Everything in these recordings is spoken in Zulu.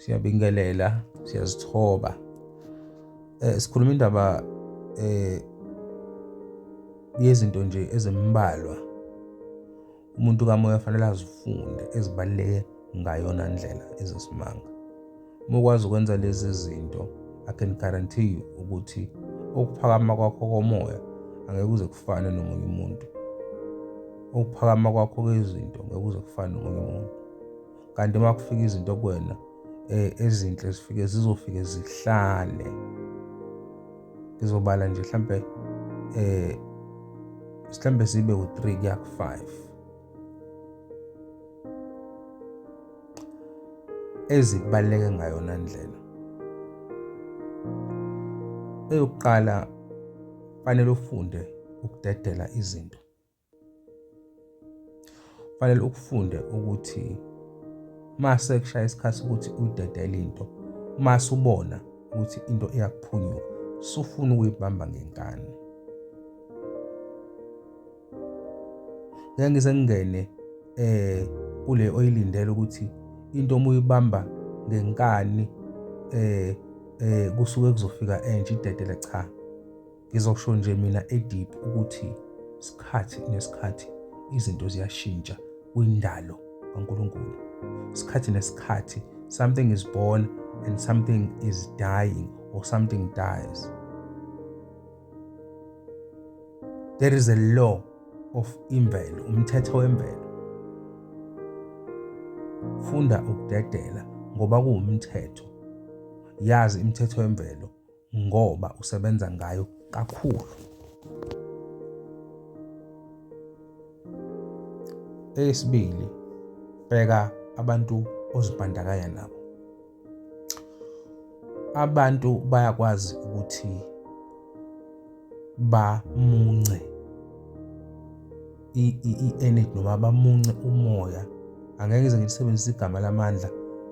siyabingelela siyazithoba eh sikhuluma indaba eh yezinto nje ezimbalwa umuntu kamoya fanele azifunde ezibaluleke ngayona ndlela ezisimanga uma ukwazi ukwenza lezi zinto i can guarantee you ukuthi ukuphakama kwakho komoya angeke uze kufane nomunye umuntu ukuphakama kwakho kwezinto ngeke uze kufane nomunye umuntu kanti uma kufika izinto kuwena eh, ezinhle zifike zizofike zihlale ngizobala nje mhlampe eh mhlampe sibe u3 kuya ku5 ezikubaleke ngayona ndlela eyokuqala fanele ufunde ukudedela izinto Kufanele ukufunde ukuthi uma sekushaya isikhathi sokuthi uyidedele into, uma subona ukuthi into iyakuphunyuka, sufuna ukuyibamba ngenkani. Ngeke ngize ngingene eh kule oyilindele ukuthi into uma uyibamba ngenkani eh eh kusuke kuzofika entsha idedele cha Ngizosho nje mina edip ukuthi sikhathi nesikhathi izinto ziyashintsha kwindalo kaNkulunkulu. Sikhathi nesikhathi something is born and something is dying or something dies. There is a law of imvelo, umthetho wemvelo. Funda ukudedela ngoba kuwumthetho. Yazi imithetho yemvelo ngoba usebenza ngayo kakhulu. Eyesibili, bheka abantu ozibandakanya nabo. Abantu bayakwazi ukuthi bamunce i-energy noma bamunce umoya angeke ngize ngilisebenzise igama lamandla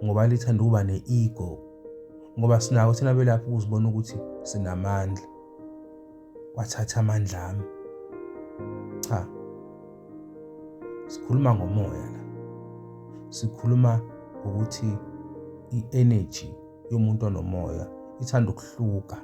ngoba lithanda ukuba ne-ego ngoba sinako thina belaphi ukuzibona ukuthi sinamandla wathatha amandla ami cha sikhuluma ngomoya la sikhuluma ngokuthi i-energy yomuntu onomoya ithanda ukuhluka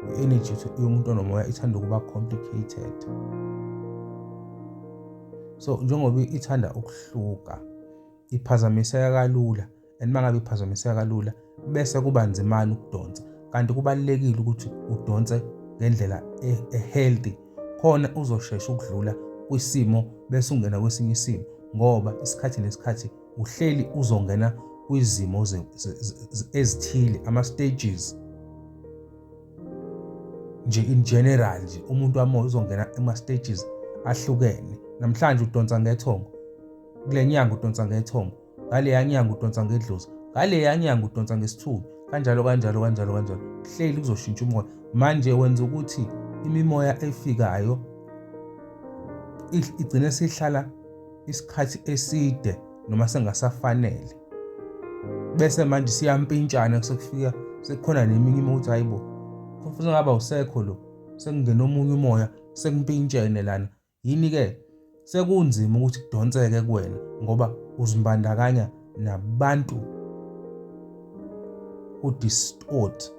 i-energy yomuntu onomoya ithanda ukuba complicated so njengoba ithanda ukuhluka iphazamiseka kalula and mangabe iphazamiseka kalula bese kuba nzimana ukudonsa kanti kubalekile ukuthi udonse ngendlela ehealthy khona uzoshesha ukudlula kwisimo bese ungena kwesinye isimo ngoba isikhathi nesikhathi uhleli uzongena kwizimo ezithile ama stages nje in general nje umuntu wamoya uzongena ema stages ahlukene namhlanje udonsa ngethongo kule nyanga udonsa ngethongo ngaleya nyanga udonsa ngedlozi ngaleya nyanga udonsa ngesithubi kanjalo kanjalo kanjalo kanjalo hleli kuzoshintsha umoya manje wenza ukuthi imimoya efikayo igcine sihlala isikhathi eside noma sengasafanele bese manje siyampintshana sekufika sekukhona neminye imoya ukuthi hayibo kufanele ngaba usekho lo sekungena omunye umoya sekumpintshene lana Yini-ke sekunzima ukuthi kudonseke kuwena ngoba uzimbandakanya nabantu who distort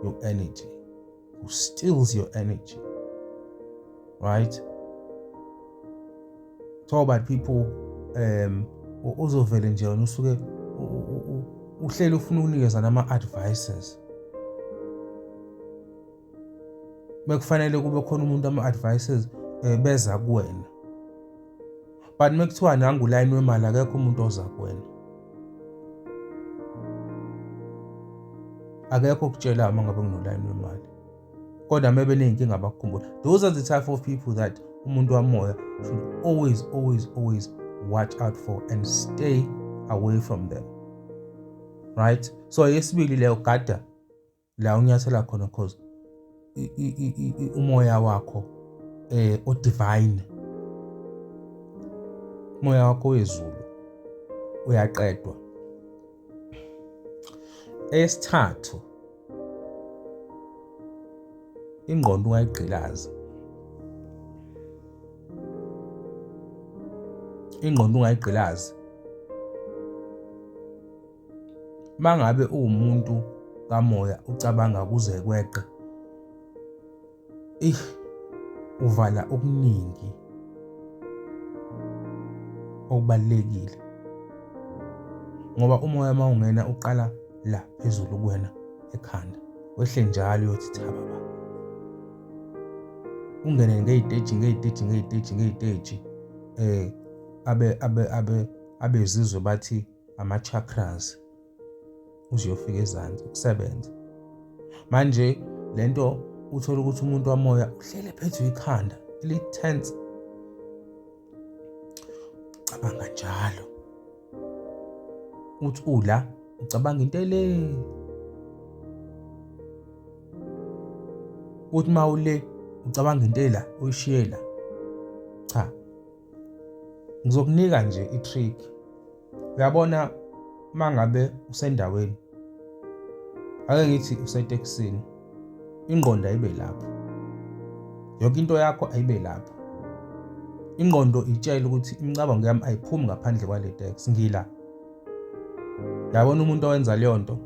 your energy, who steals your energy. Right? Talk about people um uzovele nje wena usuke uhlele ufuna ukunikeza nama advices bekufanele kube khona umuntu ama-advices um beza kuwena but uma kuthiwa nangu ulayini wemali akekho umuntu oza kuwena akekho okutshela uma ngabe nginolayini wemali kodwa uma beney'nkinga bakukhumbula those are the type of people that umuntu wamoya should always always always watch out for and stay away from them right so yesibili leyo gada la unyathela khona because umoya wakho eh o divine umoya wakho wezulu uyaqedwa esithathu ingqondo ungayigqilazi ingqondo ungayigqilazi mangabe uwumuntu kamoya ucabanga kuze kweqe ih uvala okuningi okubalekile ngoba umoya mawungena uqala la phezulu kuwena ekhanda wehle njalo uyothi thaba ba ungene ngeyiteji ngeyiteji ngeyiteji ngeyiteji eh abe abe abe abezizwe bathi ama-chakras uziyofika ezansi ukusebenza manje le nto uthole ukuthi umuntu wamoya uhlele phethwe ikhanda li-tense cabanga njalo uthi ula ucabanga into ele uthi mawule ucabanga into ela uyishiyela cha Ngizokunika nje i-trick. Uyabona mangabe usendaweni ake ngithi usetekisini ingqondo ayibe lapho yonke into yakho ayibe lapho ingqondo itshela ukuthi imicabango yami ayiphumi ngaphandle kwale tax ngila yabona umuntu owenza leyo nto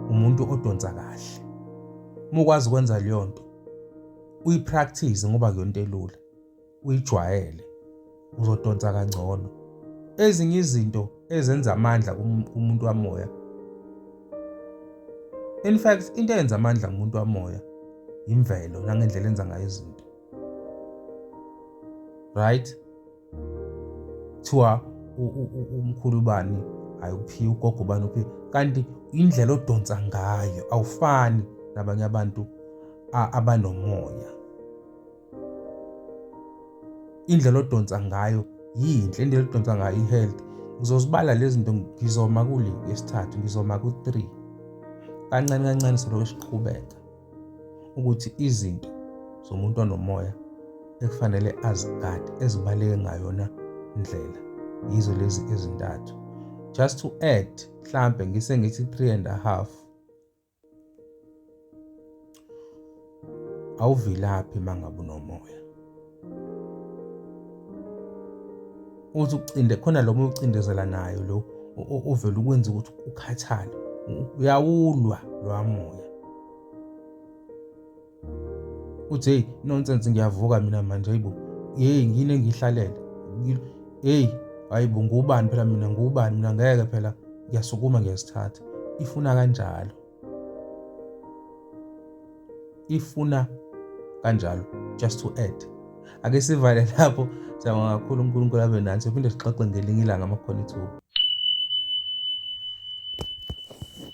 umuntu odonsa kahle uma ukwazi ukwenza leyo nto uyipractice ngoba kuyonto elula uyijwayele uzodonsa kangcono ezinye izinto ezenza amandla kumuntu wamoya in fact into eyenza amandla kumuntu wamoya imvelo nangendlela enza ngayo izinto right thiwa umkhulu bani ayikuphiwa ugogo bani uphi kanti indlela odonsa ngayo awufani nabanye abantu abanomoya indlela odonsa ngayo yinhle indlela odonsa ngayo i-health ngizozibala lezi zinto ngizoma kule yesithathu ngizoma ku-three kancane kancane siloke siqhubeka ukuthi izinto zomuntu onomoya ekufanele azigade ezibaleke ngayona ndlela yizo lezi ezintathu just to add mhlambe ngisengithi 3 and a half awuvilaphi mangabe unomoya uthi ucinde khona lo moya ucindezela nayo lo uvela ukwenza ukuthi ukhathale uyawulwa loya moya uthi hey nonsense ngiyavuka mina manje hayibo hey ngine ngihlalele hey hayibo ngubani phela mina ngubani mina ngeke phela ngiyasukuma ngiyasithatha ifuna kanjalo ifuna kanjalo just to add ake sivale lapho siyabonga kakhulu unkulunkulu abe nathi phinde sixoxe ngelinye ilanga amakhona ithuba